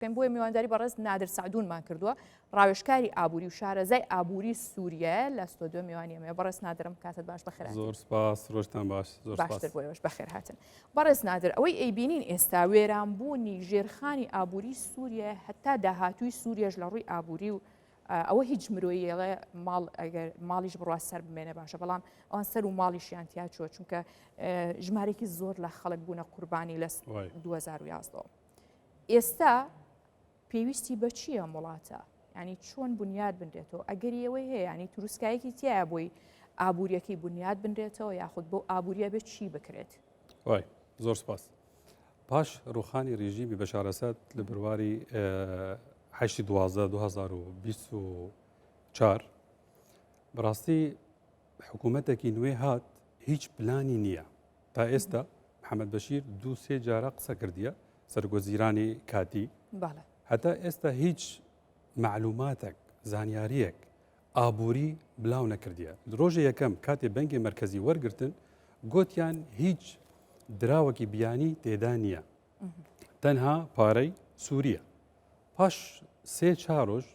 پێم بۆیە میوانداری بەڕێز نادر سعدونمان کردووە ڕاوێشکاری ئابووری و شارەزای ئابووری سووریە لە ستۆدیۆ میوانی ئەمێ بەڕێز نادرم کاتت باش بەخێر زۆر سپاس ڕۆژتان باش زۆر باشتر سپاس. بۆیەوەش بەخێر هاتن بەڕێز نادر ئەوەی ئەیبینین ئێستا وێرانبوونی ژێرخانی ئابووری سووریە هەتا داهاتووی سووریەش لە ڕووی ئابووری و آه، ئەوە هیچ مرۆیەڵێ ماڵ ئەگەر ماڵیش بڕوا سەر بمێنێ باشە بەڵام ئەوان سەر و ماڵیشیان تیا چووە چونکە آه، ژمارێکی زۆر لە خەڵک بوونە قوربانی لە وای. 2011 ئێستا پێویستی بە چییە ئەم وڵاتە؟ ینی چۆن بنیاد بنرێتەوە ئەگەری ئەوەی هەیە ینی تروسکایەکی تایە بۆی ئابوووریەکەی بنیاد بنرێتەوە یاخود بۆ ئابوووریە بێت چی بکرێت وای زۆر سپاس پاش ڕوخانی ڕژیمی بەشارەسەد لە برواری هشتی دوازە 2024 بەڕاستی حکوومەتێکی نوێ هات هیچ پلانی نییە تا ئێستا محەممەد بەشیر دوو سێ جارە قسە کردیە سەرگۆزیرانی کاتی هەتا ئێستا هیچ معلوماتێک زانیاریەک ئابووری بلاو نەکردیە درۆژە یەکەم کاتێ بەنگی مرکزی وەرگتن گوتیان هیچ دراوەکی بیانی تێدا نییە تەنها پارەی سووریە پاش سێ چارۆژ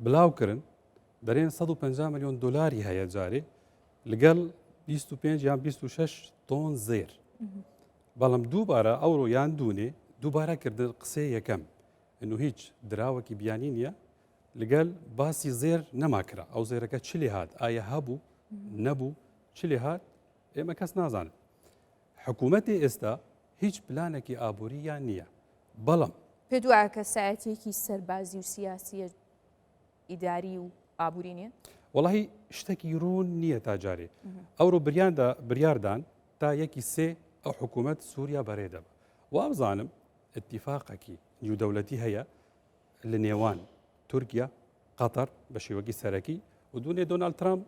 بلاوکردن دەرێن 150 میلیۆن دلاری هەیە جارێ لەگەڵ 25 یان 26 تۆن زێر بەڵام دووبارە ئەوڕۆ یان دوونێ دووبارە کردن قسەی یەکەم ئەنو هیچ دراوەکی بیانی نییە لەگەل باسی زێر نەماکرا ئەو زێرەکە چ لێ هاات ئایا هەبوو نەبوو چ لێ هاات ئێمە کەس نازانن حکوومەتی ئێستا هیچ پلانێکی ئابووریان نییە بەڵام پێ دوایە کەسایەتێکی سەربازی و سیاسیە ئیداری و ئابووری نیە؟ وەڵی شتێکی ڕوون نییە تا جارێ ئەوڕۆ بریاندا بریاردان تا یەکی سێ ئەو حکوومەت سووریا بەرێدەبە وابزانم اتفاقەکی نیودەولەتی هەیە لە نێوان تورکیا قەتەر بە شێوەکی سەرەکی و دوونێ دۆناالد ترامپ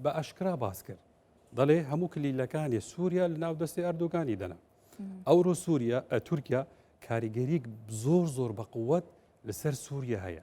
بە ئەشکرا باس کرد دەڵێ هەموو کلیلەکانی سووریا لە ناو دەستی ئەردوگانی دەنا ئەوڕۆ سووریا تورکیا کاریگەریک زۆر زۆر بە قووەت لەسەر سووریە هەیە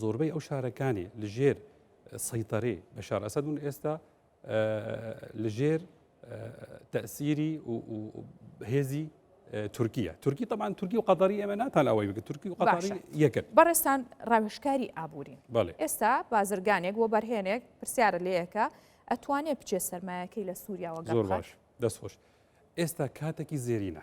زۆربەی ئەو شارەکانی لژێر سەیتەرەی بەشار ئەسەد بوون ئێستا لژێر تەسیری هێزی تورکیا تورکی تەمان تورکی و قەدەری ئێمە ناتان ئەوەی بگە تورکی و قەداری یەکرد بەڕێستان ڕاوشکاری ئابوورین ئێستا بازرگانێک بۆ بەرهێنێک پرسیارە لەیەکە ئەتوانێت بچێت سەرمایەکەی لە سووریاوە گەڕ باش دەستخۆش ئێستا کاتێکی زێرینە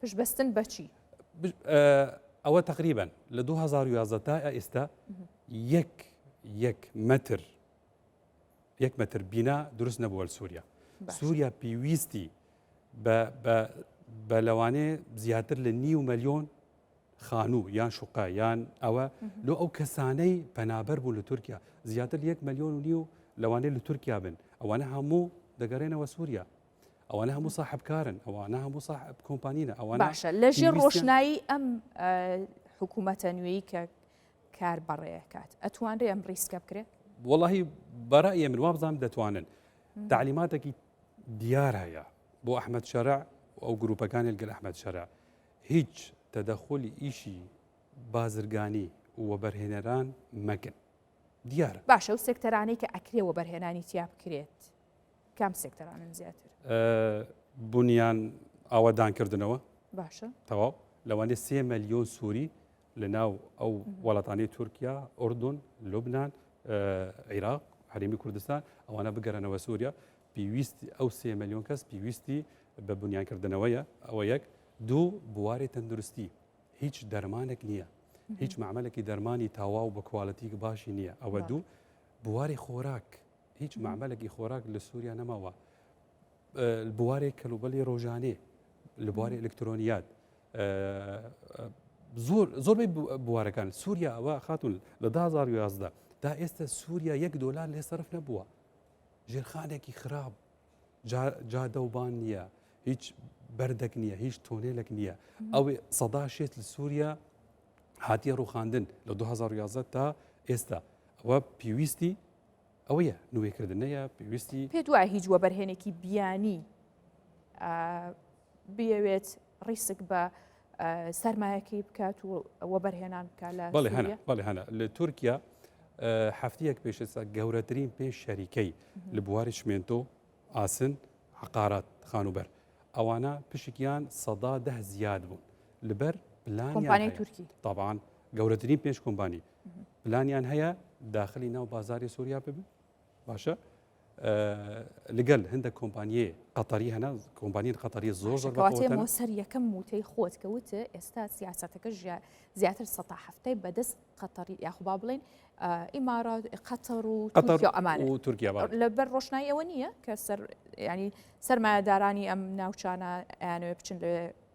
پشت بەستن بە چی؟ ئەوە تقریبن لە 2011 تا ئێستا یەک یەک مەتر یەک مەتر بینا دروست نەبووە سووریا سووریا پێویستی بە لەوانێ زیاتر لە نیو ملیۆن خانوو یان شوقا یان ئەوە لۆ ئەو کەسانەی پەنابەر بوو لە تورکیا زیاتر یەک ملیۆن و نیو لەوانێ لە تورکیا بن ئەوانە هەموو دەگەڕێنەوە سووریا ئەوانە هەموو ساحب کارن ئەوانە هەموو ساحب کۆمپانینە ئەوانە باشە لە ژێر ڕۆشنایی ئەم حکوومەتە نوێی کە کار بەڕێکات ئەتوانرێ ئەم ڕیسکە بکرێت وڵی بەرە من وابزانام دەتوانن تعلیماتێکی دیار هەیە بۆ ئەحمد شەرع ئەو گروپەکانی گەل ئەحمد شەرع هیچ تەدەخۆلی ئیشی بازرگانی وەبەرهێنەران مەگن دیارە باشە و سێکتەرانی کە ئەکرێ وەبەرهێنانی تیا بکرێت کام سێکتەرانن زیاتر؟ بونیان ئاوەدانکردنەوە باشە تەواو لەوانێ سێ ملیۆن سووری لە ناو ئەو وڵاتانی تورکیا ئۆردون لوبناان عێراق هەرمی کوردستان ئەوانە بگەرەنەوە سووریا پێویست ئەو سێ ملیۆن کەس پێویستی بە بنیانکردنەوەیە ئەوە یەک دوو بواری تەندروستی هیچ دەرمانێک نییە هیچ معمەلێکی دەرمانی تاواو بە کوالەتیک باشی نییە ئەوە دوو بواری خۆراک هیچ مەعمەلێکی خۆراک لە سووریا نەماوە بوارێک کەلوبەلی ڕۆژانێ لە بواری ئەلکترۆنیات زۆر زۆربەی بوارەکان سووریا ئەوە خاتون لە 2011 تا ئێستا سووریا یەک دۆلار لێ سرف نەبووە ژێرخانێکی خراپ جادەوبان نییە هیچ بەردەک نییە هیچ تۆنێلێک نییە ئەو سەدا شێت لە سووریا هاتیە ڕوخاندن لە 2011 تا ئێستا ئەوە پێویستی ئەوەیە نوێکردنەیە پێویستی. پێت وایە هیچ وەبەرهێنێکی بیانی بیەوێت ڕیسک بە سەرمایەکەی بکات و وەبەرهێنان بکە لە بەڵێ هەنا لە تورکیا هەفتەیەک پێشسا گەورەترین پێش شەریکەی لە بواری شمێنتۆ ئاسن عقارات خانوبەر ئەوانە پشکیان سەدا ده زیاد بوون لەبەر پلانی تورکی تاوان گەورەترین پێش کۆمبانی پلانیان هەیە داخلی ناو بازاری سووریا ببن باشە لەگەل هەندە کۆمپانیە قەتەری هەنا کۆمپانیە قەتەری زۆر زۆر سەر یەکەم موتەی خۆت کەوت ئێستا سیاستەکە زیاتر سە هەفتەی بەدەست قەتەری یاخوبا بڵێن ئیمارات قەتەڕ و ئەمان و تورکیا لەبەر ڕۆشنایی ئەوە نییە کە سەر ینی سەرمایەدارانی ئەم ناوچانە یانەوە بچن لە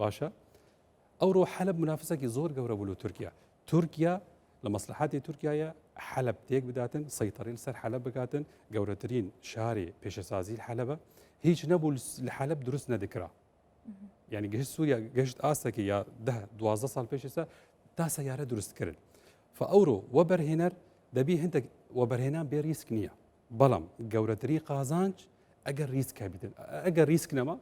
باشە ئەوڕۆ حەلب منافسەکی زۆر گەورە بوو لە تورکیا تورکیا لە مەسلحاتی تورکایە حەلب تێک بداتن سەیتەڕیل سەر حەلب بگاتن گەورەترین شاری پێشەسازی حەلبە هیچ نەبوو لە حەلب دروست نەدەکرا ینی گەشت سووریا گەشت ئاستەکە یا ده دوازدە ساڵ پێشێستا تا سەیارە دروستکرد فە ئەوڕۆ وەبەرهێنەر دەبی هەندێک وەبەرهێنان بێ ریسک نییە بەڵام گەورەتری قازانج ئەگەر ریسک هەبیتن ئەگەر ریسک نەما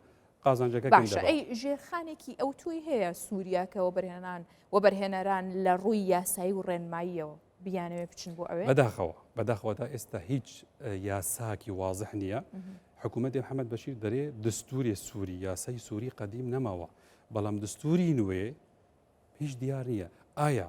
قازانجەکە باشە ئەی ژێرخانێکی ئەو توی هەیە سووریاکە وەبرهێنان وەبەرهێنەران لە ڕووی یاسایی و ڕێنماییەوە بیانەوێ بچن بۆ ئەوێ بەداخەوە بەداخەوە تا ئێستا هیچ یاساکی وازح نییە حکوومەتی حەمەد بەشیر دەرێ دەستوری سووری یاسای سووری قەدیم نەماوە بەڵام دەستوری نوێ هیچ دیار نییە ئایا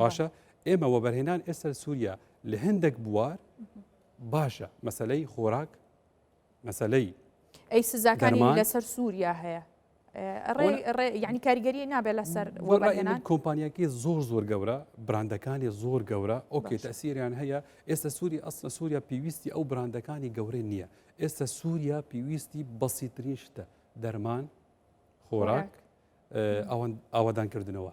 باشە ئێمە وەبەرهێنان ئێستا سووریا لە هەندێک بوار باشە مەسلەی خۆراک مەسلەی ئەی سزاکانی لەسەر سووریا هەیە ینی کاریگەری نابێت لەسەر کۆمپانیەکی زۆر زۆر گەورە براندەکانی زۆر گەورە ئۆکێ تەسیریان هەیە ئێستا سووری ئەسلە سووریا پێویستی ئەو براندەکانی گەورە نییە ئێستا سووریا پێویستی بەسیترین شتە دەرمان خۆراک ئەوەدانکردنەوە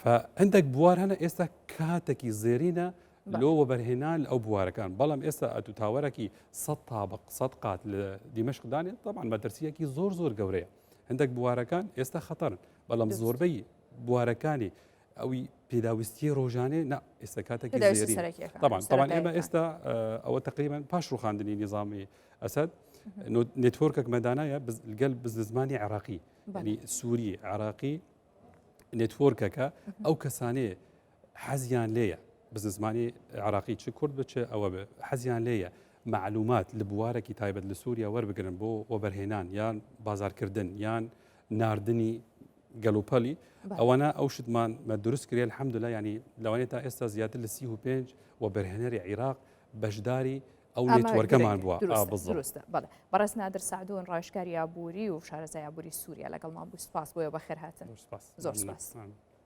فە هەندێک بوار هەنە ئێستا کاتەکی زێرینە لۆ وەبەرهێنان لە ئەو بوارەکان بەڵام ئێستا ئەتو تاوەرەکی سە تابق سە قات لە دیمەشقدانێت تامان مەترسیەکی زۆر زۆر گەورەیە هەندێک بوارەکان ئێستا خەتەرن بەڵام زۆربەی بوارەکانی ئەوی پێداویستی ڕۆژانێ نە ئێستا کاتێکی تامان تامان ئێمە ئێستا ئەوە تقریبان پاش ڕوخاندنی نظامی ئەسد نتۆرکەک مەدانایە گەل بزنزمانی عراقی سووری عراقی نێتۆرکەکە ئەو کەسانەیە حەزیان لێیە بزن زمانی عراقی چ کورد بچ ئەوە حەزیان لێیە معلومات لە بوارێکی تایبەت لە سووریا وەربگرن بۆ وەبەرهێنان یان بازارکردن یان نردنی گەلوپەلی ئەوانە ئەو شتمان مە دروست کرێن حەمدلا ینی لەوانێت تا ئێستا زیاتر لە 35 و بەرهێنەری عێراق بەشداری ئەو نێتوەرکەمان بووە دروستە بەڵێ بەڕێز نادر سعدون ڕاشکاری ئابووری و شارەزای ئابووری سووریا لەگەڵمان بوو سپاس بۆیە بەخێر هاتن زۆر سپاس.